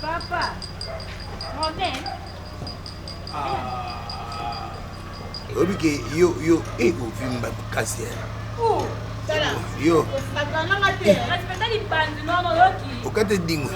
Papa, Robin. oyebi ke yo yo ekovimba eh, makasi eh. oh, yo okata edingwe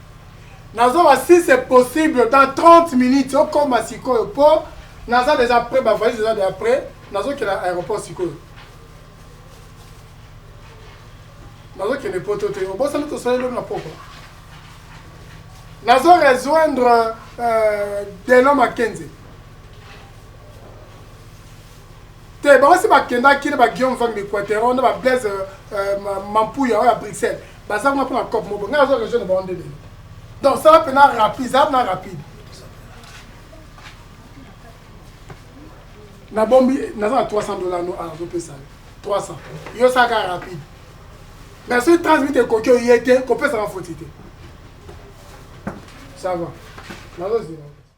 Nazoba si c'est possible dans 30 minutes okoma sikoyo po naza deja près ba valise eza deja près nazokela aéroport sikoyo. nazokende poto te obosani tosali lobi na pokwa nazo rejoindre euh, deno makenze te bango si bakendaki na baguillaume vambi quatero na bablaise euh, mampuya oyo ya bruxelles baza kuna mpona cop moko ngai nazo rejoindre bango nde lelo donc sala mpena rapide zala mpena rapide nabombi naza na 300 dollar no azo pesa yo 300 yo salaka rapide mais soki 30 minute ekoki oye te kopesaka foti te ça va nazozela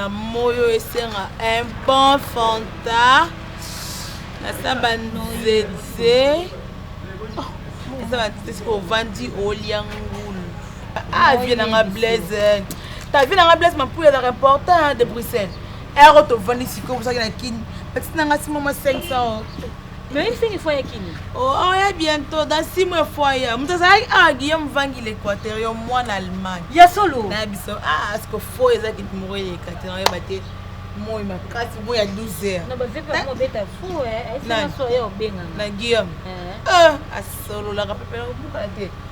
na moyo esenga un bon fanta eza banzete eza banzete soki ovandi olia ngulu Ah, vie na nga Blaise. Ta vie na nga Blaise mampula ezalaka important de Bruxelles. Ero eh, tovandi sikoyo bosaki na Kin. Petite na nga si mama 500. Mais il finit fois ya Kin. Oh, oh ya bientôt dans 6 mois fois ya. Mutu azalaki ah Guillaume Vangi l'Équateur yo mwana Allemagne. Ya solo. Na biso ah asko fo ezaki moko eleka te na yeba te. moi makasi moi ya 12 heures na guillaume eh. eh, asololaka pepe nakobukana te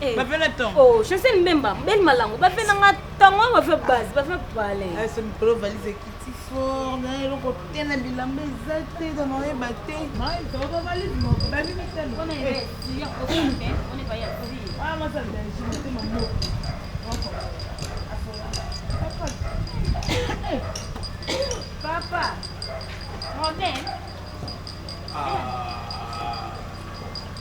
Eh. bavela ntongo oh, josé mbemba mbeli malango bavela nga ntongo bave base bave pale ese ah, mikolo valise ekiti fort na eloko te na bilamba eza te tana oyeba te papa Robin ah.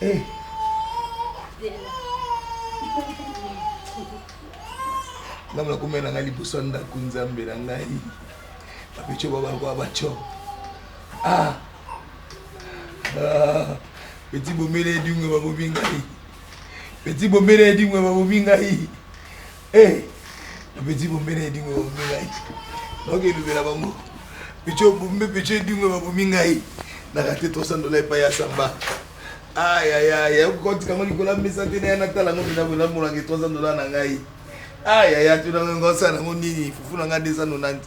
Eh. ngai nakomela na ngai liboso ya ndako nzambe na ngai bapeco babakoa baco ah. ah. peti bomela edingwe babomi ngai peti bomela edingwe babomi ngai Eh, petit bombe na edingo bombe ngai. Oke lubela bango. Picho bombe picho edingo babomi ngai. Na rate 300 dollars epai ya samba. Aïe aïe aïe, ya koti kango likola mesa te na ya natala ngo bina bola mola ke 300 dollars na ngai. Aïe aïe, tu na ngo sa na ngo nini? Fufu na nga 290.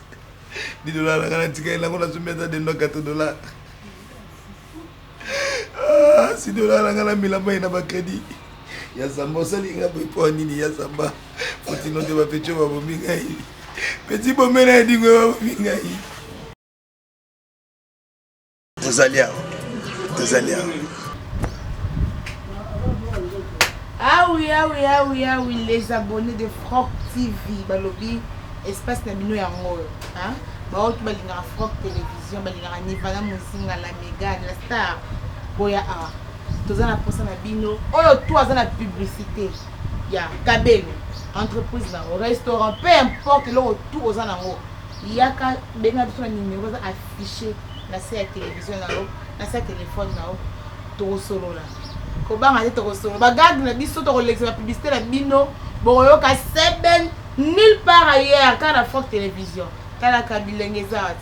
10 dollars na nga na tika elango na zumbi ata de ndo 4 dollars. Sido olala nga na mbila mai na ba credit ya zamba osali nga boye mpo nini ya zamba otino te bapeco babomi ngai peti bomela ya dingo babomi ngai tozali awa tozali awa awi awi awi awi les abonnés de froc tv balobi espace na bino yango oyo baoki balingaka froc télévision Vision balingaka Nivana Muzinga la Megane la star boya awa toza na posa na bino oyo to aza na publicité ya Kabelo entreprise na yango restaurant peu importe eloko tout oza na yango yaka benga biso na numero eza affiché na se ya télévision na yo na se ya téléphone na yo tokosolola kobanga te tokosolola bagarde na biso tokolekisa bapublicité na bino bokoyoka seben nulle part ailleurs kaka na forte télévision talaka bilenge eza